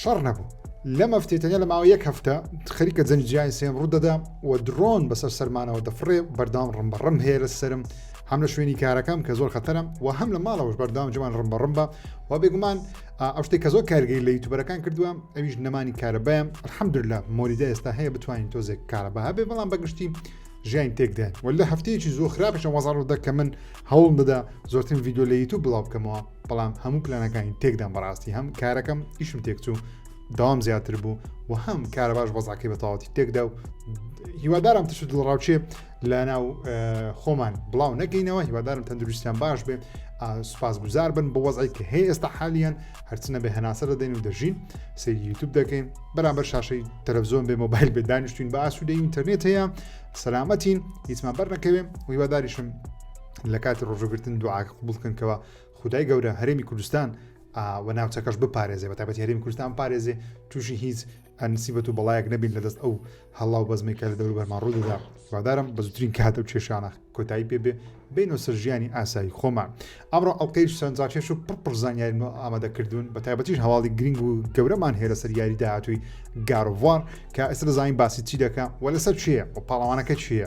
شەڕ نەبوو لەم هەفتەیە تەنیا لە ماوەی یەک هەفتە خەریکە جەنگی جیهانی سێم ڕوو دەدا و درۆن بەسەر سەرمانەوە دەفڕێ بەردەوام ڕم بە ڕم هەیە لە سرم هەم لە شوێنی کارەکەم کە زۆر خەتەرم و هەم لە ماڵەوەش بەردەوام جوان ڕم بە ڕم بە و بێگومان ئەو شتێک کە زۆر کارگەی لە یوتوبەرەکان کردووە ئەویش نەمانی کارەبایم الحەمدللا مۆریدا ئێستا هەیە بتوانین تۆزێک کارەبا هەبێ بەڵام بەگشتی ژیان تێکدێن و لە هەفتەیەکی زۆر خراپشە وەزار و دەکە من هەوڵ دەدا زۆرترین ڤیددیو لە یوتوب بڵاو بکەمەوە بەڵام هەموو پلانەکانی تێکدام بەڕاستی هەم کارەکەم ئیشم تێکچوو داوام زیاتر بوو و هەم کارە باش بەزاکەی بە تەواتی تێکدا و هیوادارم تشت دڵڕاوچێ لە ناو خۆمان بڵاو نەکەینەوە هیوادارم تەندروستیان باش بێ سوپاس گوزار بن بۆ وەزای کە هەیە ئێستا حالیان هەرچنە بە هەناسە دەدەین و دەژین سری یوتوب دەکەین بەرامبەر شاشەی تەلەڤزیۆن بێ مۆبایل بێ دانیشتین بە ئاسوودە ئینتەرنێت هەیە سەلامەتین هیچمان بەرنەکەوێ ویواداریشم لە کاتی ڕۆژوگرتن دوعاکە قوبڵ بکەن کەەوە خدای گەورە هەرێمی کوردستان و ناوچەکەش بپارێزێ بە تابەتی هەرێمی کوردستان پارێزێ تووشی هیچ ئەنسیبەت و بەڵایەک نەبین لە دەست ئەو هەڵاو بەزمی کە لە دەور بەرمان ڕوودەدا وادارم بە زوترین کاتە و کێشانە کۆتایی پێ بێ بینۆ سەر ژیانی ئاسایی خۆمان ئەمڕۆ ئەڵلقەی سەرنجاکێش و پڕپڕ زانیاریم ئامادەکردوون بە تایبەتیش هەواڵی گرنگ و گەورەمان هەیە لەسەر یاری داهاتووی گارڤوار کە ئێستا دەزانین باسی چی دەکە و لەسەر چیە و پاڵەوانەکە چیە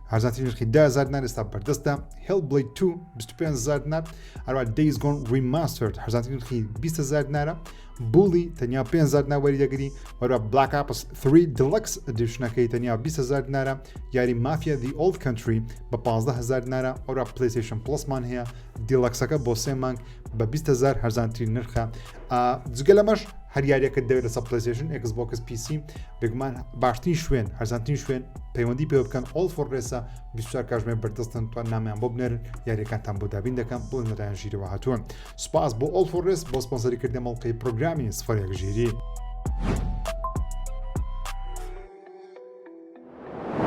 هەرزانترین نرخی دە هەزار دینار ئێستا بەردەستە Hellblade 2 25 هەزار دینار هەروە Days Gone Remastered هەرزانترین نرخی 20 هەزار دینارە بوڵی تەنیا 5 هەزار دینار وەری دەگری وەروە Black Ops 3 Deluxe Editionەکەی تەنیا 20 هەزار دینارە یاری مافیا The Old Country بە 15 هەزار دینارە وەروە PlayStation Plusمان هەیە دیلەکسەکە بۆ سێ مانگ بە 20 هەزار هەرزانترین نرخە جگە لەمەش هەر یاریەکە دەوێت لەسە پلسیشن ئەکس بۆکس پیسی بگمان باشترین شوێن هەرزانترین شوێن پەیوەندی پێ بکەن ئۆڵ فۆڕێسا بیشتر کاژمێ بەردەستن توان نامیان بۆ بنێرن یاریەکانتان بۆ دابین دەکەم بۆ نەران ژیرەوە هاتووە سوپاس بۆ ئۆڵ فۆڕێس بۆ سپۆنسەری کردە مەڵقی پرۆگرامی سفرێک ژیری.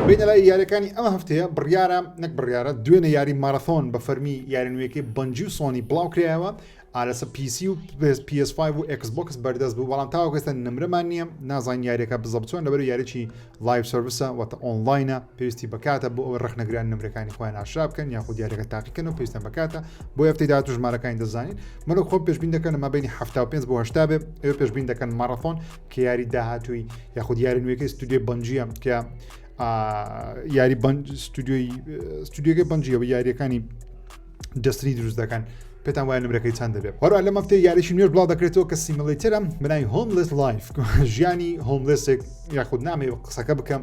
بینە لای یاریەکانی ئەم هەفتەیە بڕیارە نەک بڕیارە دوێنە یاری مارەثۆن بە فەرمی یارنوێەکەی بەنجی و سۆنی بڵاوکرایەوە ئا لەسە پیسی و PS5 و ئەکس بۆکس بەردەست بوو بەڵام تاوەکە ئێستا نمرەمان نییە نازان یاریەکە بزە بچۆن لەبەر یاریی لایف سرویسە وەتە ئۆنلاینە پێویستی بکاتە بۆ ئەوەی ڕخنەگران نمرەکانی خۆیان ئاشرا بکەن یاخود دیارەکە تاقیکەن و پێویستە بکاتە بۆ ئەفتی داات و ژمارەکانی دەزانین مەلو خۆم پێشبین دەکەن مە بینی ه پێ بۆ هشتا بێ ئێوە پێشبین دەکەن ماڕەفۆن کە یاری داهاتووی یاخود یاری نوێەکەی ستودیۆ بنجە کە یاری بەنج ستودیۆی ستودیۆگەی بنجیەوە یاریەکانی جستری دروست دەکەن پێتان وای نمرەکەی چند دەبێت هەرو لە مەفتێ یاریشی نوێش بڵاو دەکرێتەوە کە سیملیترم بنای هۆملس لایف ژیانی هۆملسێک یاخود نامێ قسەکە بکەم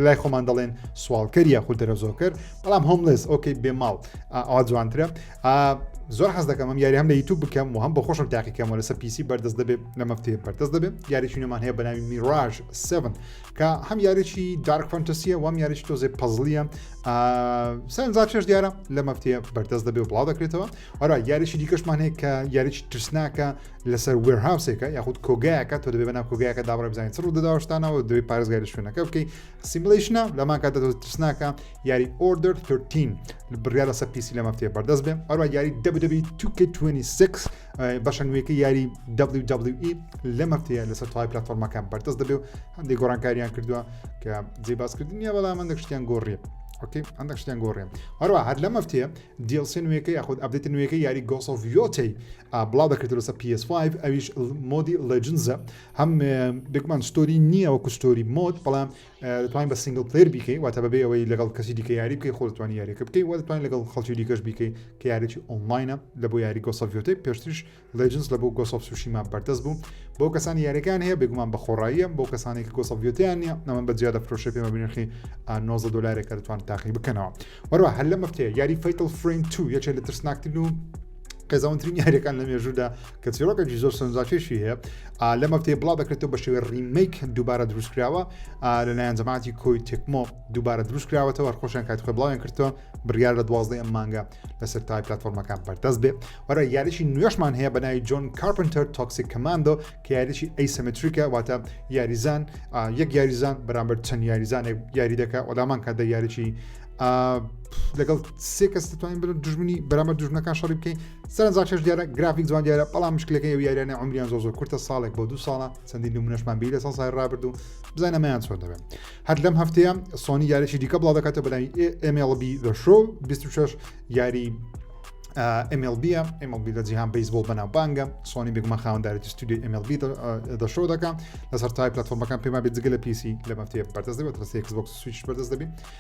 لای خۆمان دەڵێن سوالکەر یاخود دەرەزۆکەر بەڵام هۆملس ئۆکەی بێ ماڵ ئا جوانترە زۆر حەز دەکەم ئەم یاری هەم لە یوتوب بکەم و هەم بە خۆشم تاقیکەمەوە لەسەر پیسی بەردەست دەبێت لە مەفتێ بەردەست دەبێت یاریی نوێمان هەیە بەناوی میراژ 7 کە هەم یاریی دارک فەنتەسیە وام یاریی تۆزێ پەزلیە سەرنجا چێش دیارە لە مەفتەیە بەردەست دەبێ و بڵاو دەکرێتەوە ئەرا یاریی دیکەشمان هەیە کە یاریی ترسناکە لەسەر وێرهاوسێکە یاخود کۆگایەکە تۆ دەبێ بەنا کۆگایەکە دابڕێ بزانین چڕ دەداوەشتانەوە دوێ پارێزگای لە شوێنەکە بکەی سیملیشنە لەمان کاتە تۆ ترسناکە یاری ئۆردر 13 بڕیا لەسەر پیسی لە مەفتەیە بەردەست بێ ئەرا یاری دەبدەبی 2 26 بەشە نوێەکەی یاری WWE لەم هەفتەیە لەسەر تەواوی پلتفۆرمەکان بەردەست دەبێ و هەندێک گۆڕانکاریان کردووە کە جێ باسکردنیە بەڵام هەندێک شتیان گۆڕیە ئۆکی هەندێک شتیان گۆڕێن هەروە هەر لەم هەفتەیە DLC نوێەکەی یاخود ئەبدێت نوێەکەی یاری گۆسۆڤیۆتی بڵاو دەکرێت لەسە PS5 ئەویش مۆدی لەجنزە هەم بێکمان ستۆری نییە وەکو ستۆری مۆد بەڵام دەتوانی بە سینگڵ پلەیر بیکەی واتە بەبێ ئەوەی لەگەڵ کەسی دیکە یاری بکەی خۆ دەتوانی یاریەکە بکەی وە دەتوانی لەگەڵ خەڵکی دیکەش بیکەی کە یاریی ئۆنلاینە لە بۆ یاری گۆسەڤۆتەی پێشتریش لەجنس لە بۆ گۆسۆف سوشیما بەردەست بوو بۆ کەسانی یاریەکان هەیە بێگومان بە خۆڕاییە بۆ کەسانی کە گۆسەڤۆتیان نیە ئەمە بە جیا دەفرۆشێ پێمە بنرخی 90 دلارێکە دەتوان تاقی بکەنەوە وەروە هەر لە مەفتەیە یاری فیتل فریم 2 یەکێ لە ترسناکترین و قێزەونترین یاریەکان لە مێژوودا کە چیرۆکێکی زۆر سەنجاکێشی هەیە لە مەفتەی بڵاو دەکرێتەوە بە شێوەی ڕیمیک دووبارە دروستکراوە لەلایەن جەماعتی کۆی تێکمۆ دووبارە دروستکراوەتەوە خۆشیان کات خۆ بڵاویان کردەوە بڕیار لە دوازدە ئەم مانگە لەسەر تای پلتفۆرمەکان بەردەست بێ وەرە یاریشی نوێشمان هەیە بە ناوی جۆن کارپنتەر تۆکسی کماندۆ کە یاریشی ئەیسەمەتریکە واتە یاریزان یەک یاریزان بەرامبەر چەند یاریزانێک یاری دەکە وەلامان کە دە یاریی لەگەڵ سێ کەس دەتوانین برن دژمنی بەرامە دژمنەکان شەڕی بکەین سەرنجا شش دیارە گرافیک جوان دیارە بەڵام مشکلەکە ئەو یاریانە عمریان زۆ زۆر کورتە ساڵێک بۆ دوو ساڵە چەندین نمونەشمان بی لە ساڵ سای ڕابرد و بزانەمەیان چۆن دەبێت هەر لەم هەفتەیە سۆنی یاریی دیکە بڵاو دەکاتە بەلاوی MLB The Show 26 یاری MLB MLB لە جیهان بیسبول بەناو بانگە سۆنی بگمە خاوەنددارێتی ستودی MLB دەشۆ دەکەم لەسەر تای پلتفۆرمەکان پێما بێت جگە لە پیسی لە مەفتەیە بەردەست دەبێت ڕستی Xbox سویچ بەردەست دەبێت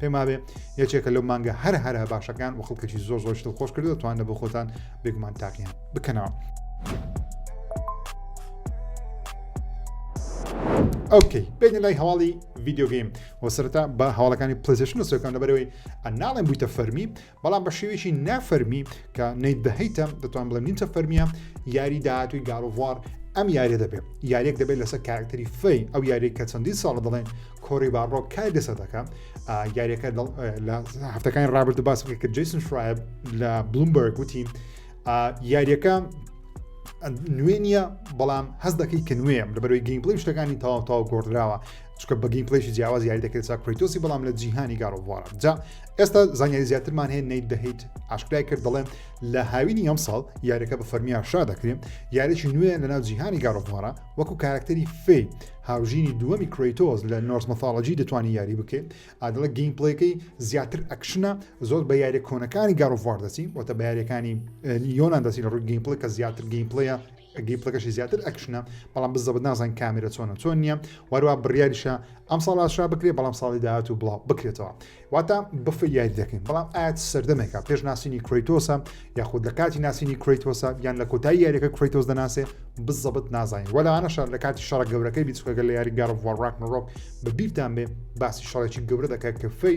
پێم وابێ یەکێکە لەو مانگە هەر هەرە باشەکان و خڵکەی زۆر زۆر شتل خۆش کردو توانە بۆ خۆتان بێگومان تاقییان بکەنەوە. ئۆکەی بێنە لای هەواڵی ڤیددیوگەیم وەسەرتا بە هەواڵەکانی پلسیشن سوەکان لەبەرەوەی ئەناڵێن بوویتە فەرمی بەڵام بە شێوەیەکی نا فەرمی کە نەیت بەهیتە دەتوان بڵێ نیچە فەرمیە یاری داهاتوی گاڵڤوار ئەم یاریە دەبێت یاریەک دەبێت لەسەر کارکتەری فەی ئەو یاری کە چەندی ساڵ دەڵێن کۆری باڕۆ کار لەسەر دەکە یاریەکە لە هەفتەکانی ڕابرد باس کە جیسن شرایب لە بلومبەرگ وتی یاریەکە نوێ نییە بەڵام هەز دەکەی کە نوێم لە بەرەوەی گەیمپلی شتەکانی تاوا تاوا گۆڕدراوە چکە بە گەیمپلەیشی جیاواز یاری دەکرێت چا کریتۆسی بەڵام لە جیهانی گاڕۆڤوارە جا ئێستا زانیاری زیاترمان هەیە نیت دەهیت ئاشکرای کرد دەڵێن لە هاوینی ئەم ساڵ یاریەکە بە فەرمیان شا دەکرێن یاریی نوێ لەناو جیهانی گاڕۆڤوارە وەکو کارکتەری فێ هاوژینی دووەمی کریتۆز لە نۆرس مەفاڵجی دەتوانانی یاری بکەیت ئادڵە گەیمپلەکەی زیاتر ئەکشنە زۆر بە یاریە کۆنەکانی گاڕۆڤوار دەچین وەتە بە یاریەکانی یۆناان دەچین لە ڕووی گەیمپلە کە زیاتر گەیمپلەیە گەیمپلەکەشی زیاتر ئەکشنە بەڵام بزەبت نازان کامێرە چۆنە چۆن نییە واروا بڕیاریشە ئەم ساڵ ئاشا بکرێ بەڵام ساڵی داهات و بڵاو بکرێتەوە واتا بەف یاری دەکەین بەڵام ئاەت سەردەمێکە پێش ناسینی کرۆیتۆسە یاخود لە کاتی ناسینی کرۆیتۆسە یان لە کۆتایی یاریەکە کرۆیتۆس دەناسێ بزەبت نازانین وەلانەشە لە کاتی شەڕ گەورەکەی بیچکەگە لە یاری گەڕ وڕاک نڕۆک بە بیرتان بێ باسی شەڕێکی گەورە دەکات کە فەی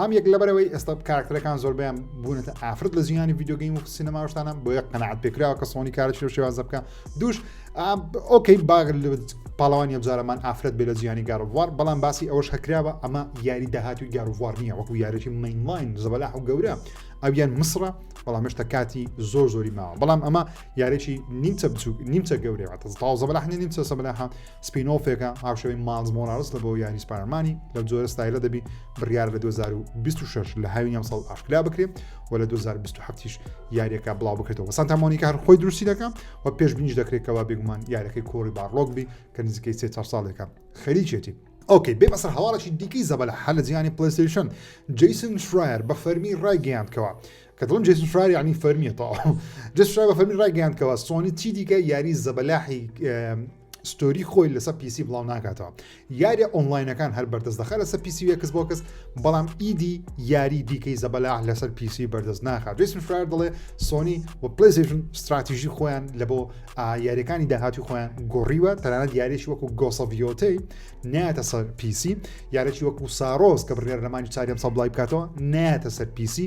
هەم یەک لەبەرەوەی ئێستا کارکتەرەکان زۆربیان بوونەتە ئافرەت لە زیانی ڤیددیوگەیم و سینەماوشتانە بۆیە قەنەعات پێکراوە کە سۆنی کارەی لە شێوازە بکە دوش ئۆکەی باگر لە پاڵەوانی ئەبزارەمان ئافرەت بێ لە زیانی گارووار بەڵام باسی ئەوەش هەکراوە ئەمە یاری داهاتوی گارووار نییە وەکو یارێکی مینلاین زەبەلاح و گەورە ئەویان مسرە بەڵام مشتە کاتی زۆر زۆری ماوە بەڵام ئەمە یارێکی نیمچە بچوک نیمچە گەورەوە تازە بەلاحنی نیمچە سەبلاحان سپین ۆڵفێکە هاوشێوەی ماڵز مۆراڵس لە بۆ یاری سپارمانی لەو جۆرە ستایلە دەبی بڕیار لە 2026 لە هاوین ئەم ساڵ ئاشکرا بکرێت و لە 2027 یاریەکە بڵاو بکرێتەوە سانتامۆنی کار خۆی درستی دەکەم و پێش بینیش دەکرێتەوە بێگومان یارەکەی کۆری باڕۆک بی کە نزیکەی سێ چهار ساڵێکە خەریکێتی ئۆکەی بێ بەسەر هەواڵێکی دیکەی زەبەلە هەر لە جیانی پلیستیشن جیسن شرایر بە فەرمی ڕایگەیاندکەوە کە دڵم جیسن شرایر ینی فەرمیە تاوە جسرا بە فەرمی ڕایگەیاندکەوە سۆنی چی دیکە یاری زەبەلاحی ستۆری خۆی لەسەر پیسی بڵاو ناکاتەوە یاریە ئۆنلاینەکان هەر بەردەست دەخە لەسەر پیسی وەکس بۆکەس بەڵام ئیدی یاری دیکەی زەبەلا لەسەر پیسی بەردەست ناخات جیسن فرار دەڵێ سۆنی و پلیزیشن استراتیژی خۆیان لە بۆ یاریەکانی داهاتی خۆیان گۆڕیوە تەنانەت یاریش وەکو گۆسەڤیۆتەی ناتە سەر پیسی یارێکی وەکو سارۆز کە بڕێر لەمانی چاریان سەبلای بکاتەوە ناتە سەر پیسی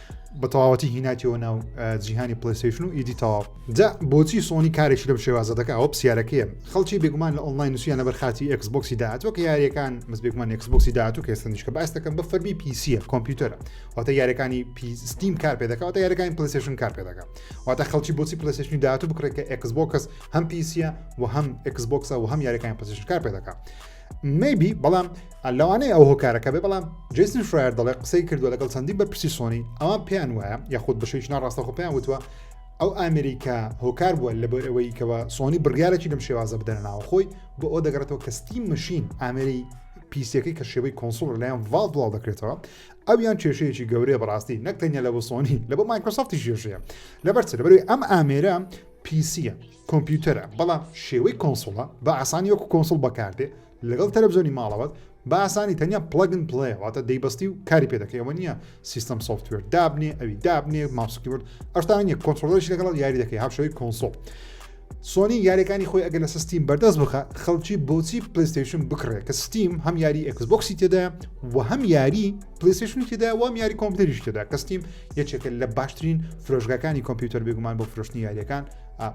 بە تەواوەتی هیناتیەوە ناو جیهانی پلیسیشن و ئیدی تەواو جا بۆچی سۆنی کارێکی لەم شێوازە دەکە ئەوە پرسیارەکەیە خەڵکی بێگومان لە ئۆنلاین نووسیان لەبەر خاتی ئەکسبکسی داهاتوە کە یاریەکان مز بێگومان ئەکسبکسی داهاتوو کە سندیشکە باس دەکەم بە فەرمی پیسیە کۆمپیوتەرە واتە یاریەکانی پیستیم کار پێ دەکەواتە یاریەکانی پلیسیشن کار پێ دەکە واتە خەڵکی بۆچی پلیسیشنی داهاتوو بکرێت کە ئەکسبکس هەم پیسیە و هەم ئەکسبکسە و هەم یاریەکانی پلیسیشن کار پێ دەکە مەیبی بەڵام لەوانەیە ئەو هۆکارەکە بێ بەڵام جیسن فرایەر دەڵێ قسەی کردووە لەگەڵ چەندی بە پرسی سۆنی ئەوان پێیان وایە یاخود بەشەیش ناڕاستە خۆ پێیان وتوە ئەو ئامریکا هۆکار بووە لە بۆ ئەوەی کەەوە سۆنی بڕیارێکی لەم شێوازە بدەنە ناوە خۆی بۆ ئەو دەگەڕێتەوە کە ستیم مەشین ئامری پیسەکەی کە شێوەی کۆنسڵ لەیان ڤال بڵاو دەکرێتەوە ئەو یان کێشەیەکی گەورەیە بەڕاستی نەکتەنیا لە بۆ سۆنی لە بۆ مایکرۆسافتی ژێژەیە لەبەر لەبەروی ئەم ئامێرە پیسیە کۆمپیوتەرە بەڵام شێوەی کۆنسوڵە بە ئاسانی وەکو کۆنسوڵ بەکاردێ لەگەڵ تەلەڤزیۆنی ماڵەوەت بە ئاسانی تەنیا پڵەگن پڵەیە واتە دەیبەستی و کاری پێ دەکەی ئەوە نییە سیستم سۆفتوێر دابنێ ئەوی دابنێ ماسکیورد ئەشتان نیە کۆنترۆلش لەگەڵ یاری دەکەی هاوشەوەی کۆنسۆڵ سۆنی یاریەکانی خۆی ئەگەر لە سستیم بەردەست بخە خەڵکی بۆچی پلیستیشن بکڕێت کە ستیم هەم یاری ئەکسبکسی تێدا و هەم یاری پلیستیشن تێدا وام یاری کۆمپیوتەریش تێدا کە ستیم یەکێکە لە باشترین فرۆشگاکانی کۆمپیوتەر بێگومان بۆ فرۆشتنی یاریەکان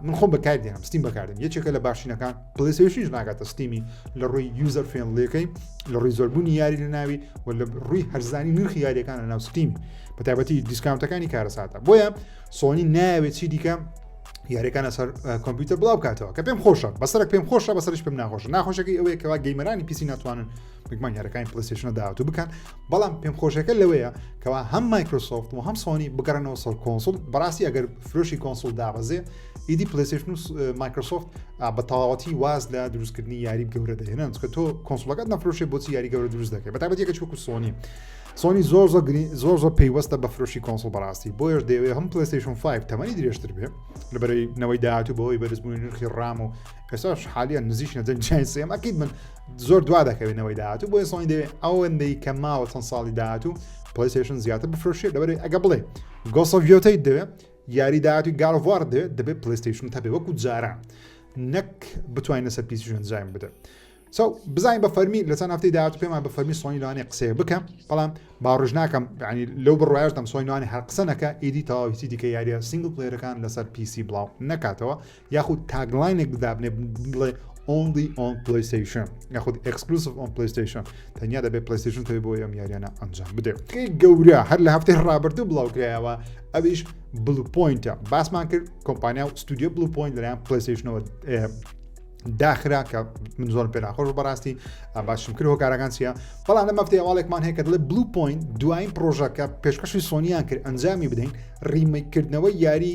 من خۆم بەکار دێنم ستیم بەکاردن یەکێکە لە باشینەکان پلیسیش ناگاتە ستیمی لە ڕووی یوزەر فێنلەکەی لە ڕووی زۆربوونی یاری لە ناوی و لە ڕووی هەرزانی نرخی یاریەکان لە ناو ستیم بە تایبەتی دیسکاونتەکانی کارەساتە بۆیە سۆنی ناوێت چی دیکە یاریەکان لەسەر کۆمپیوتەر بڵاو کاتەوە کە پێم خۆشە بەسەر پێم خۆشە بەسەرش پێم ناخۆش ناخۆشەکەی ئەوەیە کەوا گەیمەرانی پیسی ناتوانن بگمان یارەکانی پلیستشنە داهاتوو بکەن بەڵام پێم خۆشەکە لەوەیە کەوا هەم مایکرۆسۆفت و هەم سۆنی بگەڕنەوە سەر کۆنسول بەڕاستی ئەگەر فرۆشی کۆنسول دابەزێ ئیدی پلیستشن و مایکرۆسۆفت بە تەواوەتی واز لە دروستکردنی یاری گەورە دەهێنن چکە تۆ کۆنسولەکەت نەفرۆشێ بۆچی یاری گەورە دروست دەکەی بەتابەتێکە چوەکو سۆنی سۆنی زۆر زۆر زۆر زۆر پێیوەستە بە فرۆشی کۆنسل بەڕاستی بۆیش دەوێت هەم پلیستشن 5 تەمەنی درێژتر بێ لەبەرەی نەوەی داهاتوو بەوەی بەرزبوونی نرخی ڕام و کەساش حالیان نزیش نەجەنجیان سێم ئەکیت من زۆر دوا دەکەوێنەوەی داهاتوو بۆیە سۆنی دەوێت ئەوەندەی کە ماوە چەند ساڵی داهاتوو پلیسشن زیاتر بفرۆشێت لەبەر ئەگە بڵێ گۆسەڤیۆتەی دەوێت یاری داهاتوی گاڵڤوار دەوێت دەبێت پلیستشن تەبێ وەکو جاران نەک بتوانین لەسەر پیسیشن زایم بدە سو بزانین بە فەرمی لە چەند هەفتی داهات پێمان بە فەرمی سۆنی لەوانێ قسەیە بکەم بەڵام باڕژ ناکەم ینی لەو بڕایشتم سۆینوانی هەر قسەنەکە ئیدی تەواویتی دیکە یاریە سنگل پلێرەکان لەسەر پیسی بڵاو نکاتەوە یاخود تاگلاینێک دابنێ بڵێ ئۆنلی ئۆن پلیسیشن یاخود ئەکسکلوسف ئۆن پلیسیشن تەنیا دەبێت پلیسیشن تەوی بۆ ئەم یاریانە ئەنجام بدرێت گەورە هەر لە هەفتەی ڕابردوو بڵاوکرایەوە ئەویش بلوپۆینتە باسمان کرد کۆمپانیا و ستودیو بلوپۆینت لەیان پلیسیشنەوە داخرا کە من زۆر پێ ناخۆش بەڕاستی باشم کرد هۆکارەکان چیە بەڵام لە مەفتی ئەواڵێکمان هەیە کە دڵێ بلو پوین دوایین پرۆژەکە پێشکەشی سۆنیان کرد ئەنجامی بدەین ڕیمەکردنەوە یاری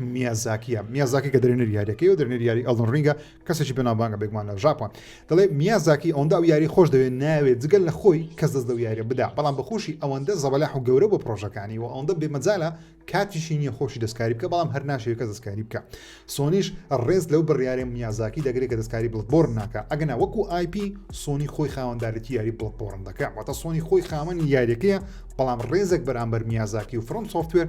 میازاکیە میازاکی کە درێنەر یاریەکەی و درێنەر یاری ئەڵن ڕینگە کەسێکی بەناوبانگە بێگومان لە ژاپۆن دەڵێ میازاکی ئەوەندا و یاری خۆش دەوێت ناوێت جگەل لە خۆی کەس دەست لەو یاریە بدا بەڵام بەخۆشی ئەوەندە زەبەلاح و گەورە بۆ پرۆژەکانی و ئەوەندە بێمەجالە کاتیشی نییە خۆشی دەستکاری بکە بەڵام هەر ناشێت کە دەستکاری بکە سۆنیش ڕێز لەو بڕیارێ میازاکی دەگرێت کە دەستکاری بڵبۆر ناکە ئەگەنا وەکو آیP سۆنی خۆی خاوەندارێتی یاری بڵبۆڕن دەکە واتە سۆنی خۆی خاوەنی یاریەکەیە بەڵام ڕێزێک بەرامبەر میازاکی و فرۆم سوفتوێر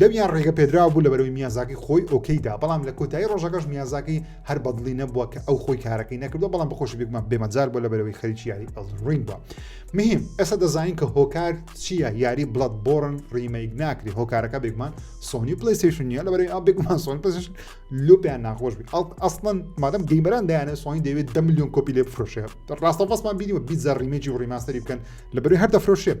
لەویان ڕێگە پێدراوە بوو لە بەرەوەی میانزاکی خۆی ئۆکەیدا بەڵام لە کۆتایی ڕۆژەکەش میانزاکی هەر بەدڵی نەبووە کە ئەو خۆی کارەکەی نەکردو بەڵام بەخۆش بێکمان بێمەجار بۆ لە بەرەوەی خەریکی یاری ئەڵڕین بووە مهم ئێستا دەزانین کە هۆکار چییە یاری بڵەت بۆرن ڕیمەیک ناکری هۆکارەکە بێکمان سۆنی پلیسیشن نیە لە بەرەوەی ئابێکمان سۆن پلیسیشن لوپیان ناخۆش بێت ئەسڵەن مادەم گەیمەران دایانە سۆنی دەوێت دە میلیۆن کۆپی لێ بفرۆشێت ڕاستەفەسمان بینیوە بیزە ڕیمەجی و ڕیماستری بکەن لە بەرەوەی هەر دەفرۆشێت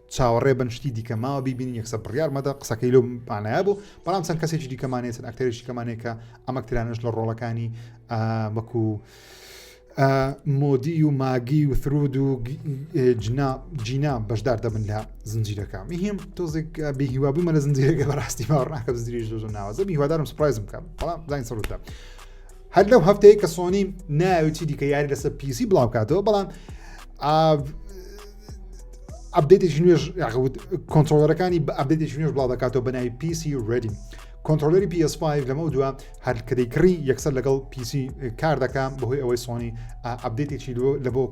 چاوەڕێ بن شتی دیکە ماوە بیبینین یەکسەر بڕیار مەدە قسەکەی لەو مانایە بوو بەڵام چەند کەسێکی دیکەمانێت چەند ئەکتەرێکی دیکەمانێک کە ئەم ئەکتەرانەش لە ڕۆڵەکانی وەکو مۆدی و ماگی و ثرود و جنا جینا بەشدار دەبن لە زنجیرەکە میهیم تۆزێک بێهیوابوومە لە زنجیرەکە بەڕاستی باڕناکە زنجیری زۆر ناوازە هیوادارم سپرایزم بکەم بەڵام زانین سەردا هەر لەو هەفتەیە کە سۆنی ناوی چی دیکە یاری لەسەر پیسی بڵاو کاتەوە بەڵام ئەبدێتێکی نوێژ یاخود کۆنتترۆلەرەکانی بە ئەبدێتێکی نوێژ بڵاو دەکاتەوە بەناوی پیسی ڕێدی کۆنتترۆلەری PS5 لەمە دووە هەرکەدەی کڕی یەکسەر لەگەڵ پیسی کار دەکەم بەهۆی ئەوەی سۆنی ئەبدێتێکی لە بۆ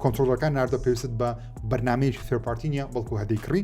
کۆنتترۆلەکان ناردە پێویست بە بەرنمەیەکی فێرپارتینە بەڵکو هەدەی کڕی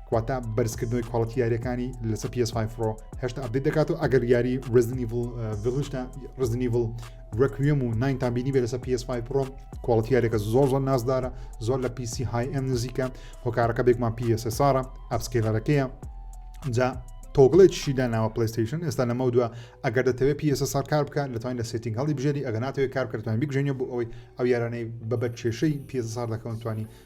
واتە بەرزکردنەوەی کواڵەتی یاریەکانی لەسە PS5 Pro هێشتا ئەبدیت دەکات و ئەگەر یاری ڕزنیڤلشتا ڕزنیڤل ڕکوێم و ناینتان بینی بێ لەسە PS5 Pro کواڵەتی یارێکە زۆر زۆر نازدارە زۆر لە PC های ئەم نزیکە هۆکارەکە بێکمان PSSRە ئەفسکێلەرەکەیە جا تۆگڵێکیشی داناوە پلیستیشن ئێستا لەمە دووە ئەگەر دەتەوێت پیسە سار کار بکە لەتوانین لە سێتنگ هەڵی بژێری ئەگەناتەوەی کارکردوان بگژێنە بۆ ئەوەی ئەو یارانەی بەبەر کێشەی پیسە سار دەکەون توانی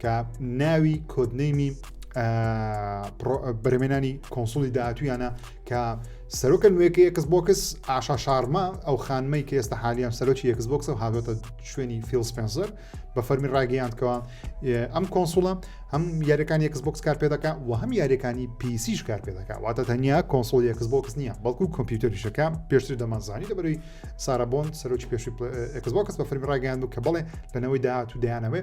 کە ناوی کۆدنەیمی بەرمێنانی کۆنسولی داهاتویانە کە سەرۆکە نوێەکە یەکس بۆکس ئاشا شارما ئەو خانمەی کە ئێستا حالیان سەرۆکی یەکس بۆکس و هاوێتە شوێنی فیل سپنسەر بە فەرمی ڕاگەیاندکەوە ئەم کۆنسوڵە هەم یاریەکان یەکس بۆکس کار پێ دەکە و هەم یاریەکانی پیسیش کار پێ دەکە واتە تەنیا کۆنسۆل یەکس بۆکس نییە بەڵکو کۆمپیوتەریشەکە پێشتر دەمانزانی لەبەروی سارابۆن سەرۆکی پێشی ئەکس بۆکس بە فەرمی ڕاگەیاند و کە بڵێ لەنەوەی داهات و دەیانەوەێ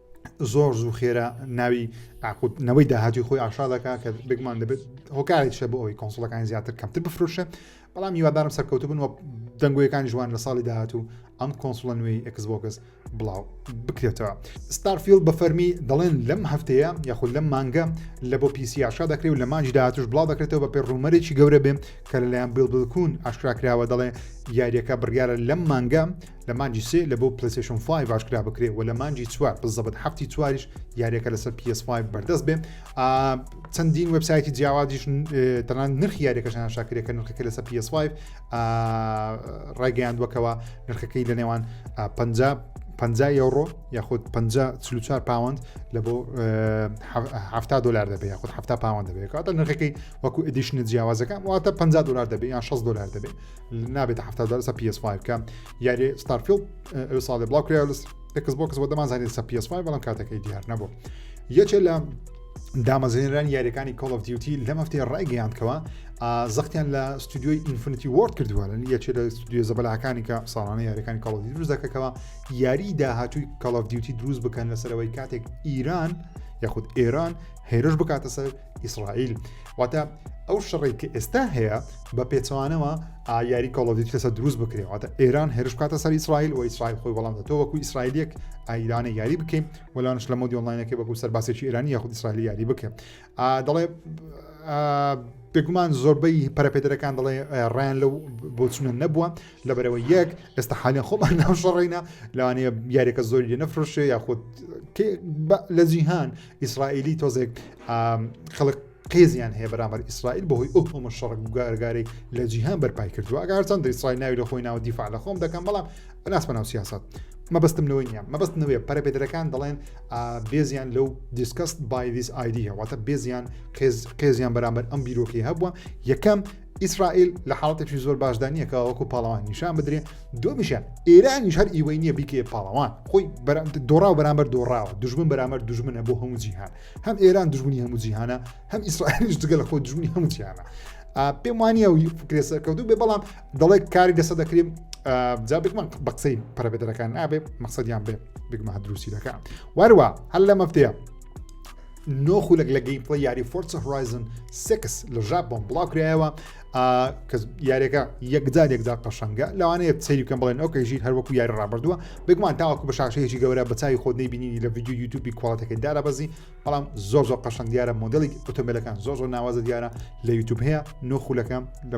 زۆر زوو خێرا ناوی ئاقوت نەوەی داهاتوی خۆی ئاشا دەکات کە بگومان دەبێت هۆکارێک شە بۆ ئەوی کۆنسڵەکانی زیاتر کەمتر بفروشە بەڵام هیوادارم سەرکەوتو بن و دەنگۆیەکان جوان لە ساڵی داهات و ئەم کۆنسڵە نوێی ئەکسبۆگەس بڵاو بکرێتەوە ستارفیل بە فەرمی دەڵێن لەم هەفتەیە یاخود لەم مانگە لە بۆ پیسی ئاشا دەکرێت و لە مانجی داهاتوش بڵاو دەکرێتەوە بە پێ ڕوومەرێکی گەورە بێ کە لەلایەن بیلبلکون ئاشکراکراوە دەڵێ یاریەکە بڕیاە لەم مانگە لە مانگی سێ لە بۆ پلەیستەیشۆن فایڤ ئاشکرا بکرێ و لە مانگی چوار بزەبت هەفتی چواریش یاریەکە لەسەر PS فایڤ بەردەست بێ چەندین وبسایەتی جیاوازیش تەنان نرخی یاریەکەشان شاکرێکە نرخەکە لەسەر PS فایڤ ڕایگەیاندوەکەوە نرخەکەی لە نێوان 50 50 یۆڕۆ یاخود 54 پاوەند لە بۆ ه دلار دەبێت یاخود ه پاوەند دەبێت کاتە نرخەکەی وەکو ئەدیشنە جیاوازەکان واتە 50 دلار دەبێت یان 6 دلار دەبێت نابێتە حەفتا دەر سە PS5 کە یاری ستارفیل ساڵێ بڵاو کرێ لە ئەکس بۆکس بۆ دەمانزانێت سە PS5 بەڵام کاتەکەی دیار نەبوو یەکێ لە دامەزێنران یاریەکانی کۆڵ of دیوتی لە مەفتێ ڕایگەیاندکەوە زەختیان لە ستودیۆی ئینفنتی وۆرد کردووە لە یەکێ لە ستودیو زەبەلاکانی کە ساڵانە یاریەکانی کاڵ دروست دەکەکەەوە یاری داهاتووی کاڵ دیوتی دروست بکەن لەسەرەوەی کاتێک ئیران یاخود ئێران هێرش بکاتە سەر ئیسرائیل واتە ئەو شڕی کە ئێستا هەیە بە پێچوانەوە ئایاری کۆڵۆدیت کەسە دروست بکرێتە ئێران هێرش کاتە سەر ئیسرائیل و ئیسرائیل خۆی بەڵام تۆ وەکو ئیسرائیلێک ئایرانە یاری بکەین وەلانش لە مۆدی ئۆنلاینەکە بەکو سەر باسێکی ئێرانی یاخود ئیسرائیل یاری بکە دەڵێ بێگومان زۆربەی پەرپێدرەکان دەڵێ ڕیان لەو بۆچونە نەبووە لە بەرەوە یەک ئێستا حالیان خۆمان ناوشەڕێنە لەوانەیە یاریەکە زۆری لێ نەفرشێ یاخود لە جیهان ئیسرائیلی تۆزێک خەڵک قێزیان هەیە بەرامبەر ئیسرائیل بەهۆی ئەو تۆمە شەڕک گارگارەی لە جیهان بەرپای کردووە ئەگەرچەن ئیسرائیل ناوی لە خۆی ناوە دیفاع لە خۆم دەکەم بەڵام ناسمە ناو سیاست مەبستم لەوەی نیە مەبست نوێ پەرەپێدرەکان دەڵێن بێزیان لەو دیسکست بایدیس ئایدیەوەتە بێزیان قێزیان بەرامبەر ئەم بیرۆکی هەبووە یەکەم ئیسرائیل لە حاڵەتێکی زۆر باشدا نییە کە وەکو پاڵەوان نیشان بدرێ دومیشە ئێرانیش هەر ئیوەی نییە بیکێ پاڵەوان خۆی دۆڕاو بەرامبەر دۆڕاوە دژمن بەرامەر دژمنە بۆ هەموو جیهان هەم ئێران دژمنی هەموو جیهانە هەم ئیسرائیلش دگە لە خۆ دژمنی هەموو جیهانە پێم وانە و فکرێ سەرکەوتو بێ بەڵام دەڵێک کاری دەسە دەکرێن جا بگمەن بە قسەی پەرەبێدەەکان نابێ مەقصدیان بێ بگمە دروستی دەکە واروە هەر لە مەفتەیە نۆ خولک لە گەیم پڵی یاری فۆرس هۆرایزن سکس لە ژاپۆن بڵاو کرایەوە کە یاریەکە یەکجار یەکدا قەشەنگە لەوانەیە سەیری بکەم بڵێن ئەو کەژیر هەروەکو یاری ڕابردووە بگومان تاواکو بە شاشەیەکی گەورە بە چاوی خۆت نبینی لە ویددیو یوتوبی کوڵاتەکەی دارە بەزی بەڵام زۆر زۆر قەشەنگ دیارە مۆدلی ئۆتۆمبیلەکان زۆر زۆر ناوازە دیارە لە یوتوب هەیە نۆ خولەکە لە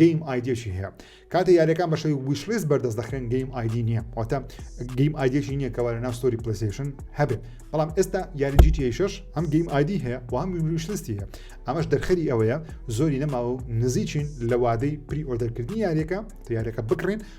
گەیم ئایدیەکی هەیە کاتێ یاریەکان بە شەوی ویشلیست بەردەست دەخرێن گەیم ئایدی نییە واتە گەیم ئایدیەکی نییە کەوا لە ناوستۆری پلیسیشن هەبێت بەڵام ئێستا یاری جیتیشش هەم گەیم ئایدی هەیە و هەم ویشلیستی هەیە ئەمەش دەرخەری ئەوەیە زۆری نەماوە و نزیکین لە وادەی پری ئۆردەرکردنی یاریەکە تیارەکە بکڕین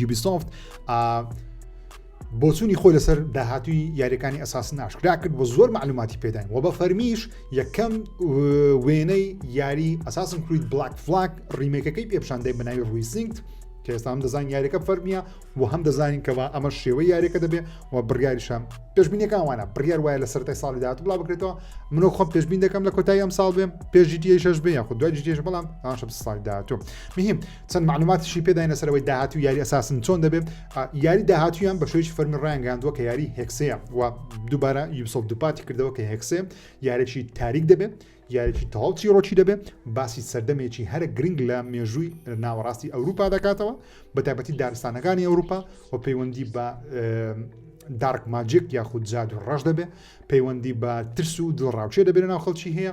یوبیسۆفت بۆچوونی خۆی لەسەر داهاتوی یاریەکانی ئەساس ناشکرا کرد بۆ زۆر معلوماتی پێداین و بە فەرمیش یەکەم وێنەی یاری ئەساسم کریت بلاک فلاک ڕیمێکەکەی پێپشاندەی بەناوی ڕویسینگت کە ئێستا هەم دەزانین یاریەکە فەرمیە و هەم دەزانین کەەوە ئەمە شێوە یاریەکە دەبێ و بڕیاریشە پێشبینەکان وانە بڕیار وایە لە سەرای ساڵی داات بڵا بکرێتەوە منۆ خۆم پێشبین دەکەم لە کۆتایی ئەم ساڵ بێ پێشجیتیشش بێ یاخود دوای جیش بەڵام ئاشە ساڵی دااتۆ مهم چەند معلوماتیشی پێداین لەسەر ئەوەی داهاتوو یاری ئەساسن چۆن دەبێت یاری داهاتویان بە شوێکی فەرمی ڕایانگەاندووە کە یاری هێکسەیە و دووبارە یوسڵ دووپاتی کردەوە کە هێکسێ یارێکی تاریک دەبێت یارێکی تەواو چیرۆکی دەبێت باسی سەردەمێکی هەرە گرنگ لە مێژووی ناوەڕاستی ئەوروپا دەکاتەوە بە تایبەتی دارستانەکانی ئەوروپا و پەیوەندی بە دارک ماجێک یاخود جاد و ڕەش دەبێت پەیوەندی بە ترس و دڵڕاوچێ دەبێت ناو خەڵکی هەیە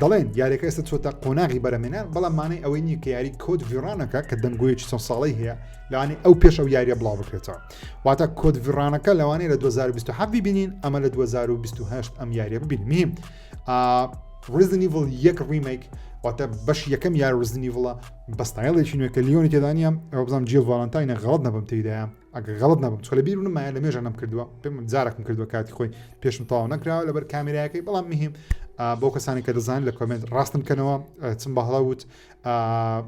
دەڵێن یاریەکە ئێستا چۆتە قۆناغی بەرەمێنان بەڵام مانەی ئەوەی نییە کە یاری کۆت ڤیڕانەکە کە دەنگۆیەکی چەند ساڵی هەیە لەوانی ئەو پێش ئەو یاریە بڵاو بکرێتەوە واتە کۆت ڤیڕانەکە لەوانەیە لە 2020 ببینین ئەمە لە 2028 ئەم یاریە ببینیم ڕزنیڤڵ یەک ڕیمێک واتە بەش یەکەم یار ڕزنیڤڵە بەستایڵێکی نوێکە لیۆنی تێدانە ئەو بزانام جێ ڤالانتاینە غڵت نەبم تێدایە ئەگەر غەڵت نەبم چۆ لە بیر منم مایە لە مێژە نەم کردووە پێم جارێکم کردووە کاتی خۆی پێشم تەواو نەکراوە لەبەر کامێراەکەی بەڵام مهم بۆ کەسانی کە دەزان لە کۆمنت ڕاستم کەنەوە چم بەهڵە وت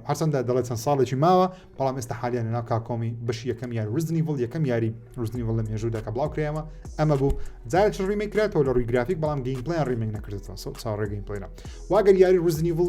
هەرچەندە دەڵێت چەند ساڵێکی ماوە بەڵام ئێستا حالیان ناو کاکۆمی بەش یەکەم یار وزنی بڵ یەکەم یاری وزنی بڵ لە مێژوودا کە بڵاو کرایەوە ئەمە بوو جارێک ڕیمێک کراتەوە لە ڕووی گرافیک بەڵام گەین پلیان ڕیمێک نەکردەوە چاڕێگەین پلیرە واگەر یاری وزنی بڵ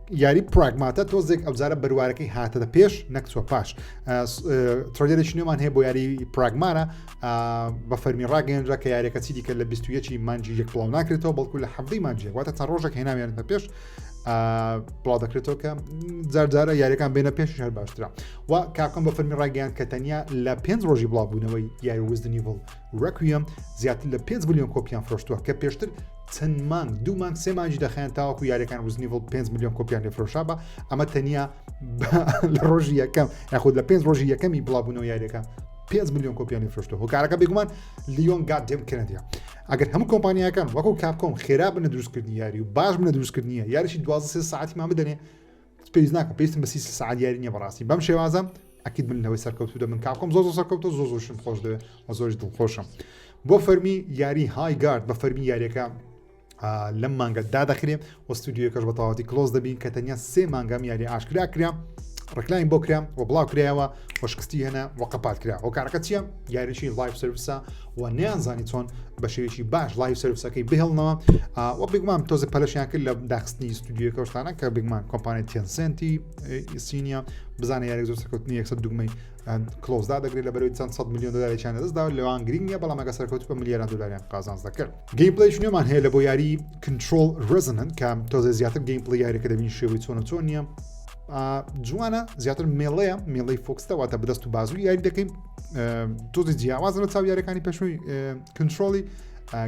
یاری پراگماتە تۆزێک ئەوجارە بەروارەکەی هاتەدە پێش نەکچوە پاش ترۆلێرێکی نوێمان هەیە بۆ یاری پراگمانە بە فەرمی ڕاگەێنرا کە یارەکە چی دیکە لە 21 مانجی یەک بڵاو ناکرێتەوە بەڵکو لە حەبی مانجیە واتە تا ڕۆژێک هێناویان بە پێش بڵاو دەکرێتەوە کە جارجارە یاریەکان بێنە پێش هەر باشترا و کاکەم بە فەرمی ڕاگەیان کە تەنیا لە پێنج ڕۆژی بڵاوبوونەوەی یاری وزدنی بڵ Requiem زیاتر لە پێنج ملیۆن کۆپیان فرۆشتووە کە پێشتر چەند مانگ دوو مانگ سێ مانگی دەخیان تاوەکو یاریەکان وزنیڤڵ 5 ملیۆن کۆپیان لێفرۆشا بە ئەمە تەنیا لە ڕۆژی یەکەم یاخود لە پێنج ڕۆژی یەکەمی بڵابوونەوە یاریەکە 5 میلیۆن کۆپیانی فرۆشتە هۆکارەکە بێگومان لیۆن گادێم کەنەدیا ئەگەر هەموو کۆمپانیەکان وەکو کاپکۆم خێرا بنە دروستکردنی یاری و باش بنە دروستکردنیە یاریشی دوازە ساعتیمان بدەنێ پێویست ناکە پێویستم بە سی سعات دیاری نیە بەڕاستی بەم شێوازە ئەکیت من لەوەی سەرکەوتو دەبن کاکۆم زۆ زۆ سەرکەوتە زۆ زۆشم خۆش دەوێ و زۆش دڵخۆشم بۆ فەرمی یاری های گارد بە فەرمی یاریەکە لەم مانگە دادەخرێ و ستودیوەکەش بە تەواتی کلۆز دەبین کە تەنیا سێ مانگام یاری ئاشکرا کرا ڕکلاین بۆ کرا و بڵاو کرایەوە وەشکستی هەنا وەقەپات کرا هۆکارەکە چیە یاریشی لایف سرویسە و نەیانزانی چۆن بە شێوێکی باش لای سروسەکەی بهێڵنەوە و بگومان تۆزە پەلشیان کرد لە داخستنی ستودیوەکە شتانە کە بگومان کۆمپانیای تێنسنتی ئیسینیا بزانە یاری زۆر سەکەوتنی یەکسە دوگمەی کلۆزدا دەگرێت لە بەرەوەی چەند 100 میلیۆن دلاریان دەستدا لەوان گرنگ نیە بەڵام ئەگە سەرکەوت بە میلیاران دلاریان قازانز دەکرد گەیمپلەی شنێمان هەیە لە بۆ یاری کنترۆل ڕزنن کە تۆزە زیاتر گەیمپلی یاریەکە دەبین شێوەی چۆنە چۆن نیە جوانە زیاتر مێڵەیە مێڵی فۆکستەواتە بەدەست و بازوی یاری دەکەین تۆزی جیاواز لە چاو یارەکانی پێشووی کنترۆلی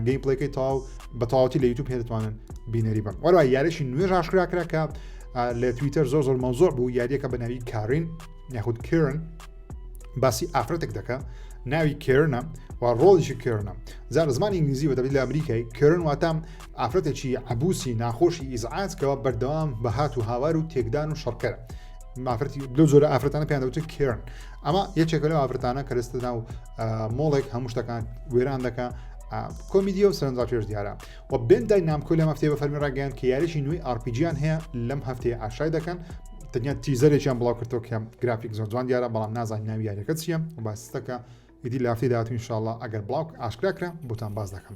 گەی پلەکەی تاو بە تەواوەتی لە یوتوب پێدەتوانن بینەری بن وەرای یارەشی نوێژ هاشکرا کرا کە لە تویتەر زۆر زۆر مەوزۆر بوو یاریەکە بە ناوی کارین یاخود کرن باسی ئافرەتێک دەکە ناوی کرنە و ڕۆڵیشی کرنە زار زمانی ئینگلیزی و دەبیت لە ئەمریکای کرن واتام ئافرەتێکی عبوسی ناخۆشی ئیزعاتکەوە بەردەوام بەهات و هاوار و تێکدان و شەڕکەر مافرەتی لەو زۆرە ئافرەتانە پێیان دەوتە کرن ئەمە یەکێکە لەو ئافرەتانە کە لەستە ناو مۆڵێک هەموو شتەکان وێران دەکە کۆمیدیە و سەرنجا پێش دیارە و بێندای نامکۆی لەم هەفتەیە بە فەرمی ڕاگەیان کە یاریی نوێی ئارپیجیان هەیە لەم هەفتەیە ئاشای دەکەن تەنیا تیزەرێکیان بڵاو کردەوە کە گرافیک زۆر جوان دیارە بەڵام نازان ناوی یاریەکە چییە و باسستەکە ئیدی لافتی داهاتوین شاءڵە ئەگەر بڵاوک ئاشکراکرا بۆتان باز دەکەم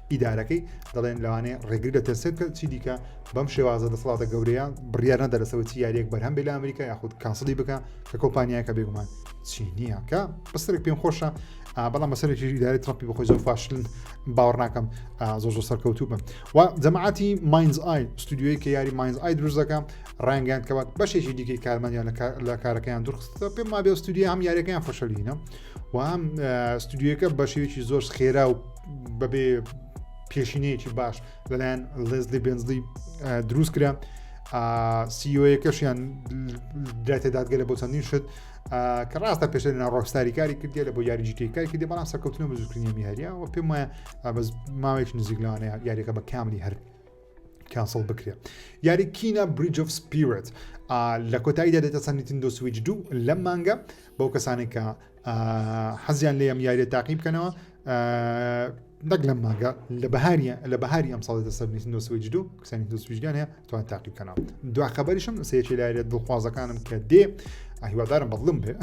ئیدارەکەی دەڵێن لەوانەیە ڕێگری لە تەسک کرد چی دیکە بەم شێوازە دەسەڵاتە گەورەیە بڕیار نەدەرەسەوە چی یاریەک بەرهەم بێ لە ئەمریکا یاخود کاسڵی بکە کە کۆمپانیاکە بێگومان چی نییە کە بەسەرێک پێم خۆشە بەڵام بەسەرێکی داری ترپی بەخۆی زۆر فاشلن باوەڕ ناکەم زۆر زۆر سەرکەوتوو بم و جەماعاتی ماینز ئای ستودیوی کە یاری ماینز ئای دروست دەکەم ڕنگیان کەوات بەشێکی دیکەی کارمەندیان لە کارەکەیان درخستە پێم ما بێ ستودیە هەم یاریەکەیان فشەلینە و هەم ستودیوەکە بەشێکی زۆر خێرا و بەبێ پێشینەیەکی باش لەلایەن لێزلی بنزلی دروست کرا سیۆیەکەشیان دراتێ دادگەلە بۆ چەندین شت کە ڕاستە پێش لە ڕۆکستاری کاری کردی لە بۆ یاریجیکەی کاری کردی بەڵام سەرکەوتنە بزوکردنی میهریە و پێم وایە بەس ماوەیەکی نزیک لەوانەیە یاریەکە بە کاملی هەر کانسڵ بکرێ یاری کینە بریج of سپیرت لە کۆتاییدا دێتە سەر نیتندۆ سویچ دوو لەم مانگە بەو کەسانێک کە حەزیان لێ ئەم یاریە تاقی بکەنەوە نەک لەم مانگە لە بەهاریە لە بەهاری ئەم ساڵێتە سەر نیتندۆ سویچ دوو کەسانی دو سویچدان هەیە توان تاقی بکەنەوە دو خبریشم سێکی لایرە دڵخوازەکانم کە دێ هیوادارم بەڵم بێ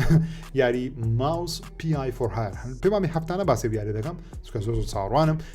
یاری ماوس پیای فۆرهار پێمامی هەفتانە باسی بیارە دەکەم چکە زۆر زۆر چاڕوانم